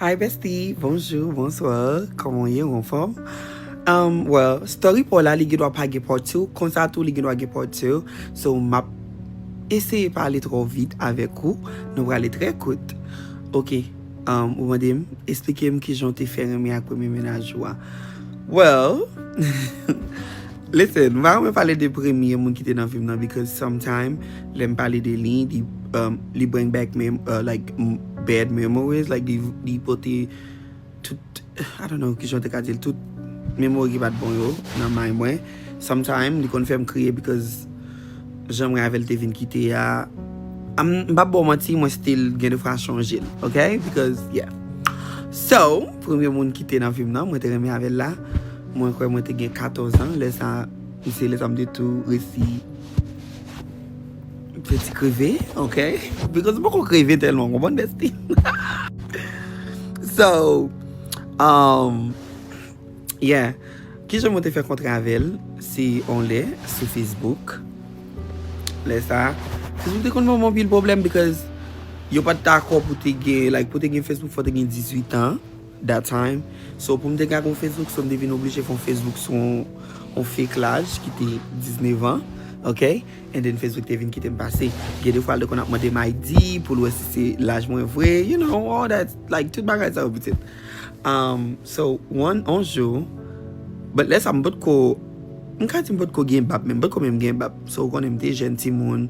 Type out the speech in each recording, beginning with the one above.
Hi bestie bonjour bonsoir koman w ye ou anfòm um well story paw la li gendwa pa gen part 2 konsa tou li gendwa gen part 2 so map eseye pa ale trò vit avèk ou nou prale trè kout ok um ou mande m esplike m kijan w te fè renmen ak premye mennaj ou a well Listen, m pa renmen pale de premye moun ki te nan vi m nan because sometime lè m pale de li, li bring back like bad memories, like li pote tout, I don't know kijan w te ka di l, tout memory ki pa t bon yo nan mind mwen. Sometime li konn fè m kriye because. Janm rave l te vin kite a M pap baw manti mwen still gen de fwa chonje l ok because yeah So premye moun ki te nan vi m nan mwen te renmen avè l la Mwen kwè mwen te gen 14 ans lè sa se lè sa m te tou resi fè ti kreve ok because m poko kreve tèlman konprann Destine So Umm. Yeah Kijan mwen te fè kontre avèl si on lè sou Facebook lè sa Facebook te konn banm anpil pwoblèm because yo pat dakò pou te gen like pou te gen Facebook fò te gen 18 ans that time so poum te ka gon Facebook so m te vin oblije fon Facebook sou on fake laj ki te 19 ans ok and then Facebook te vin kitem pase gen de fwa l te konn ap mandem ID poul wè si se laj mwen vre you know all that like tout bagay sa yo pitit. So one on jou But lè sa m pot ko M ka di m pot ko gen bab menm M pot ko menm gen bab So ou konnen m te jèn timoun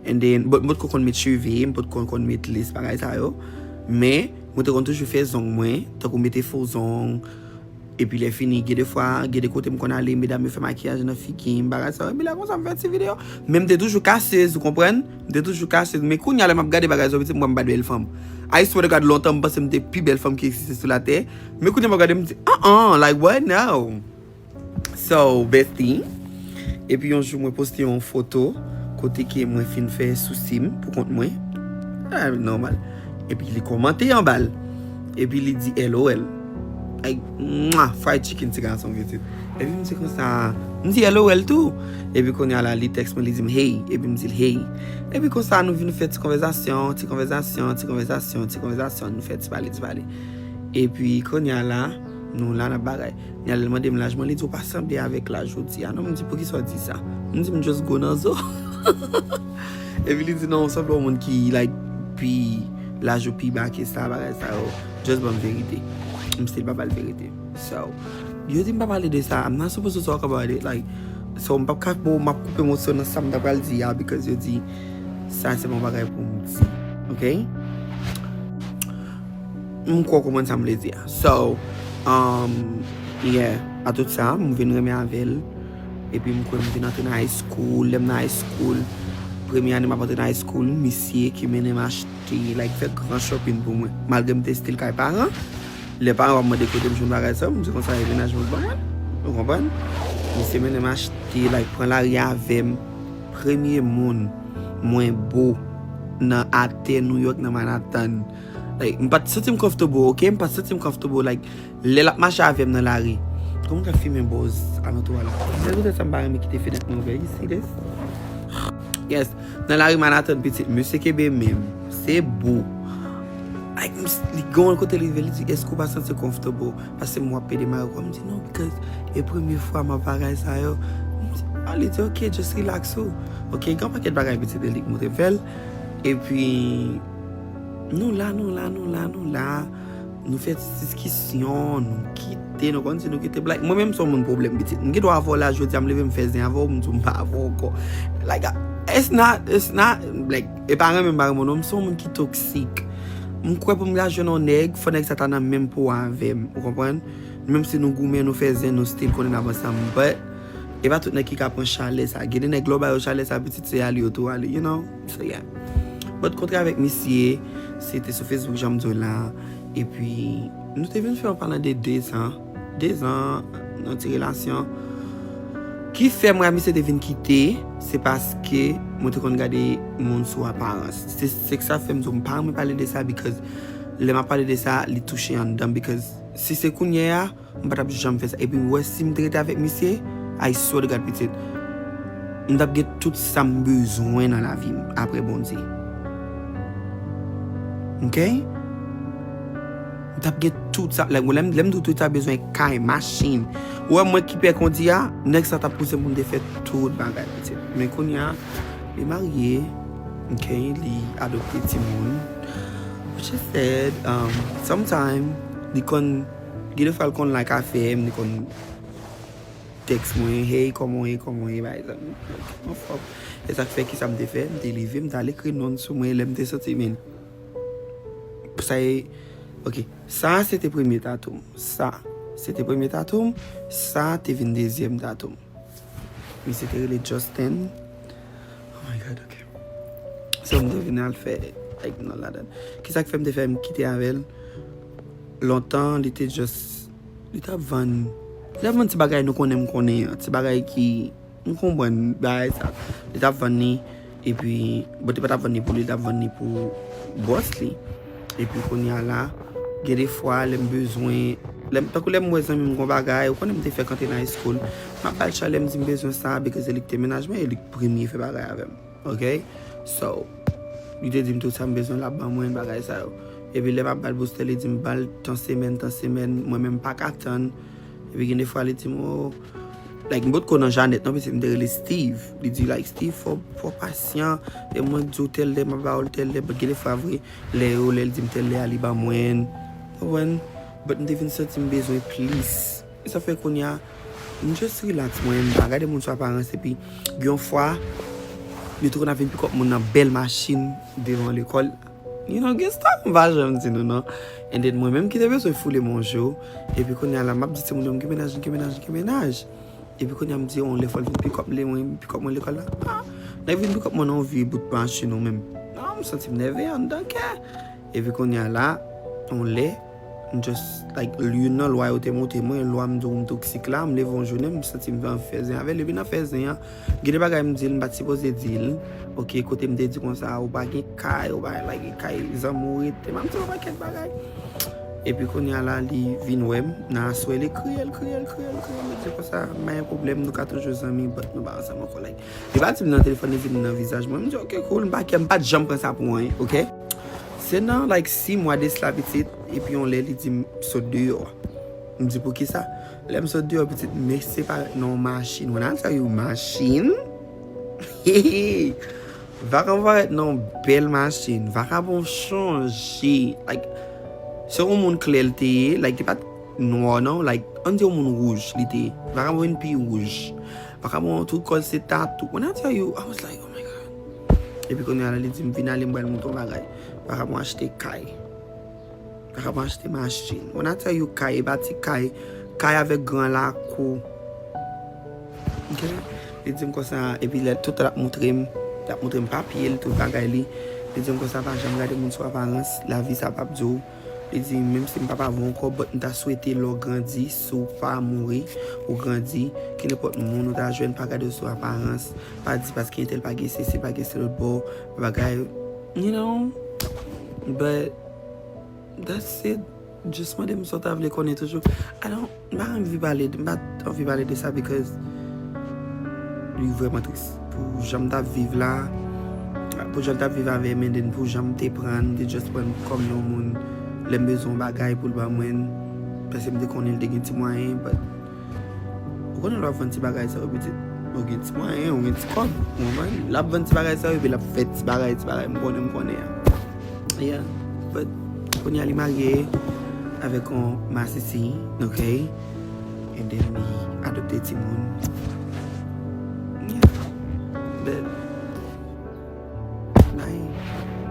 And then But m pot ko konn met cheve M pot ko konn met list bagay sa yo Men Mwen te konn toujou fè zong mwen Tankou mete fo zong Epi lè fini Gen de fwa Gen de kote m konn ale Medam yo fè makiyaj nan figi m Bagay sa yo Epi lè konsa m fè ti videyo Men m te toujou kasez ou konprann. M te toujou kache l men kounya lè map gade bagay zòbiti m wè m pa bèl fanm I swear to God lontan m panse m te pi bèl fanm ki egziste sou latè men kounya map gade m di an an like what now so bestie epi yon jou mwen poste yon foto kote ke mwen fin fè sousi m pou kont mwen epi li kòmante anba l epi li di LOL. Mwah fried chicken ti gason pitit. Epi m di konsa, m di hello el tou. Epi kounya la li text mwen li dim hey, epi m dil hey. Epi konsa nou vin fè ti konvèzasyon, ti konvèzasyon, ti konvèzasyon, ti konvèzasyon, nou fè ti pale, ti pale. Epi kounya la nou la nap bagay. Kounya la li mande m laj mwen, li di ou pa sanble avèk laj ou di a non, m di poukisa ou di sa? M di m just gwo nan zo. Epi li di non ou sanble yon moun ki like pi laj ou pi ba ke sa bagay sa yo. Just banm verite. M still pa bal verite. So, yo di m pa pale de sa. I'm not supposed to talk about it. Like, so m pap ka bon map koupe moso nan sa m ta pral di a because yo di sa se pa yon bagay pou m di. Ok? M kwè w konprann sa m vle di a. So, um, yeah. A tout sa, m vin renmen avè l. Epi m kwè m vin antre nan high school. Lè m nan high school, premye ane m ap antre nan high school, misye ki mennen m achte. Keyy like fè gran shopping pou mwen malgre m te still kay paran lè paran wap mande kotem jwenn bagay sa yo m di konsa e menaj mwen k ban mwen ou konprann misye mennen m achte like pran lari avèm premye moun mwen bo nan atè New York nan Manhattan like m pat santim comfortable ok m pat santim comfortable like. Lè lap mache avèm nan lari. Kòman ou ka fimen bòz alantou a la? Se poutèt sa m pa renmen kite fenèt mwen ouvè. You see this? Yes. Nan lari Manhattan pitit. Mesye Kebe menm. Se bo. Like m si, li gen yon kote li rive li di, èske ou pa santi comfortable pase m wap pede mare kò? M di non because e premye fwa m ap bagay sa yo. M di ah, li di ok just relax ou. Ok, gen yon pakèt bagay pitit li li montre fè l. Epi nou la, nou la, nou la, nou la. Nou fè ti diskisyon, nou kite, nou konn si nou kite blayi. Mwen menm m son moun pwoblèm pitit. M gendwa avè w la jodi a, m leve m fè zen avè w, m di w m pa avè w ankò. Like it's not, it's not like e pa renmen m pa renmen w non, m son moun ki toksik. M kwè pou m ka jwenn yon nèg, fò nèg sa ta nan menm po avè m, ou konprann? Menm si nou goumen, nou fè zen, nou still konnen n ap ansanm but e pa tout nèg ki ka pran chalè sa. Gen de nèg lè w ba yo chalè sa pitit se ale yo tou ale, you know. Seyè. Mwen te kontre avèk misye, se te sou Facebook jan m di w la, epi nou te vin fè yon palan de dezan, dezan yon ti relasyon. Ki fè mwen ak misye te vin kite, se paske mwen te konn gade moun sou aparans. Se se sa k fè m di w m pa renmen pale de sa because lè m ap pale de sa li touche anndan m because si se kounyeya. M pa tap janm fè sa epi ou wè sim te rete avèk misye I swear to God pitit m tap gen tout sam bezwen nan lavim aprè Bondye ok m tap gen tout sa like lèm lèm di w tout sa bezwen kay machin ou wè mwen ki pè kondi a nèg sa tap pousem poum te fè tout bagay pitit men kounya li marye ok li adopte timoun which is sad sometime li konn. Gen de fwa l konn like afè m, li konn text mwen hey kòman w ye, kòman w ye bay zanmi m like m anfòm. Se sa k fè kisa m te fè, m te leve m t al ekri non l sou mwen lè m te santi men sa e ok sa se te premye tatou m, sa se te premye tatou m, sa te vin dezyèm tatou m. Misye te rele Justin. Oh my God, ok. Se mwen te vin al fè like nan ladan. Ki sa ki fè mwen te fè mwen kite avè l? Lontan, li te just, li t ap vann, li t ap vann ti bagay nou konnen mwen konnen an. Ti bagay ki, nou konprann bagay sa. Li t ap vann li. Epi bon te patap vann ni pou li tap vann ni pou boss li. Epi kounya la gen de fwa lèm bezwen lèm tankou lèm wè zanmim gon bagay ou konnenm te fèk antre nan high school map bal chay lèm dim bezwen sa because se lik te mennaj mwen e lik premye fè bagay avèm ok so li te dim tout sam bezwen lap ban mwen bagay sa yo epi lèm ap bal boustè li dim bal tan semèn tan semèn mwen menm paka tann Epi gen defwa li di m o Like m potko nan Janet non pitit m te rele Steve Li di like Steve fò pasyan E mwen k di w tèl lè m ap ba w l tèl lè But gen defwa vre lè yo lè l di m tèl lè a li ban mwen Ou konprann But m te vin santi m bezwen plis E sa fè kounya m just relax mwen m pa gade moun sou aparans Epi gen yon fwa Yo te konn ap vin pik up moun nan bèl machin devan lekòl. You know gen staff m pa janm di nou non and then mwen menm ki te bezwen foule m yon jou epi kounya la m ap di timoun yo m gen mennaj m gen mennaj m gen mennaj epi kounya m di yo yon lè fò l vin pikòp m lè mwen vin pikòp mwen lekòl la a nèg vin pikòp mwen nan yon vye bout machin ou menm nan m santi m nève anndan kè epi kounya la yon lè. M just like li youn nan lwa yo te monte mwen, lwa m di w m toksik la, m leve yon jounen m santi m gen anvi fè zen avè l epi nan fè zen an gen de bagay m di l m pat sipoze di l ok kote m te di konsa ou pa gen kay ou pa gen like kay zanmi w ret epi m di l yon pakèt bagay epi kounye a la li vin wè m nan aswè li kriye l kriye l kriye l kriye l li di konsa m pa gen pwoblèm nou ka toujou zanmi but nou pa ansanm ankò like li pa di m nan telefòn li di m nan vizaj mwen m di ok cool m pa kè m pat janm pran sa pou anyen ok. Se nan like si mwa desla pitit epi yon lè li di m sot deyò a. M di poukisa? Lè m sot deyò pitit m me separe nan yon machin when I tell you machin heheheh vakabon parèt nan yon bèl machin vakabon chanje like se yon moun klè l te ye like li pa t nwa non like an n di yon moun wouj li te ye vakabon vin pi wouj vakabon tout kò l se tatou when I tell you I was like. Epi kounya la li di m vin ale m pral montre w bagay. Paka pou achte kay. Paka pou achte machin. When I tell you kay, e pa ti kay. Kay avèk gran lakou. Ok? Li di m konsa, epi lè tout lè ap montre m, lap montre m papye l, tout bagay li. Li di m konsa pa janm gade moun sou aparans, lavi sa pap di w. Li di, Menm si m pa pa voun kòb, but m ta swete lè w grandi, si w pa mouri, ou grandi. Kenenpòt moun ou ta jwenn, pa gade w sou aparans. Pa di paske entèl pa gen sesi, pa gen selotbò, bagay. You know? But, that's it. Just mande m sa w ta vle konnen toujou. I don't. M pa anvi pale de, m pa anvi pale de sa because li vrèman tris pou jan m t ap viv la, pou jan l t ap viv avè m and then pou jan m te pran l, m te just pran l kòm yon moun lè m bezwen yon bagay pou l ban mwen l paske m te konnen l te gen ti mwayen but ou konnen lè w ap vann ti bagay sa yo pitit ou gen ti mwayen, ou gen ti kòb ou konprann, l ap vann ti bagay sa yo epi l ap fè ti bagay ti bagay m konnen m konnen an. Yeah but kounye a li marye avèk yon masisi ok and then li adopte timoun yeah but.